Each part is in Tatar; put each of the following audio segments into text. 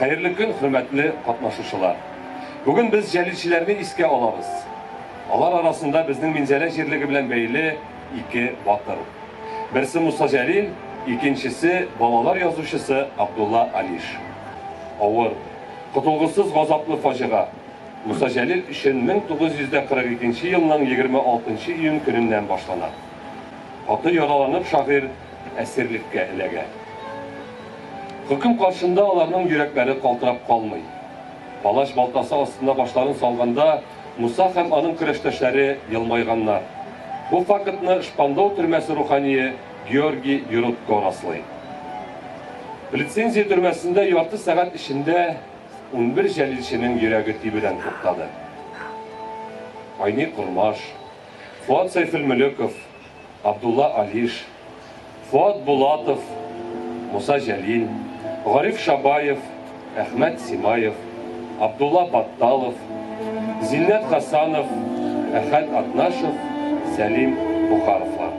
Хәерле көн, хөрмәтле катнашучылар! Бүген без җәлилчеләрне искә алабыз. Алар арасында безнең Минзәлә җирлеге белән бәйле ике батыр. Берсе Муса Җәлил, икенчесе, балалар язучысы Абдулла Алиш. Авыр, котылгысыз газаплы фаҗига. Муса Җәлил өчен 1942 елның 26 июнь көненнән башлана. Каты яраланып шагыйрь әсирлеккә эләгә. Хөкем каршында аларның йөрәкләре калтырап калмый. Палач балтасы астына башларын салганда, Муса һәм аның көрәштәшләре елмайганнар. Бу фактны Шпандау төрмәсе рухание Георгий Юрутко раслый. Лицензия төрмәсендә ярты сәгать эчендә унбер җәлилченең йөрәге тибүдән туктады. Айни Кормаш, Фоат Сәйфелмөлеков, Абдулла Алиш, Фоат Булатов, Муса Җәлил, Гариф Шабаев, Әхмәт Симаев, Абдулла Батталов, Зиннәт Хасанов, Әхәт Атнашев, Сәлим Бохаровлар.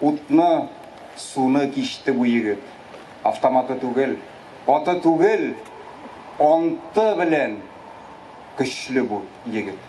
Утны, суны кичте бу егет. Автоматы түгел, аты түгел, анты белән көчле бу егет.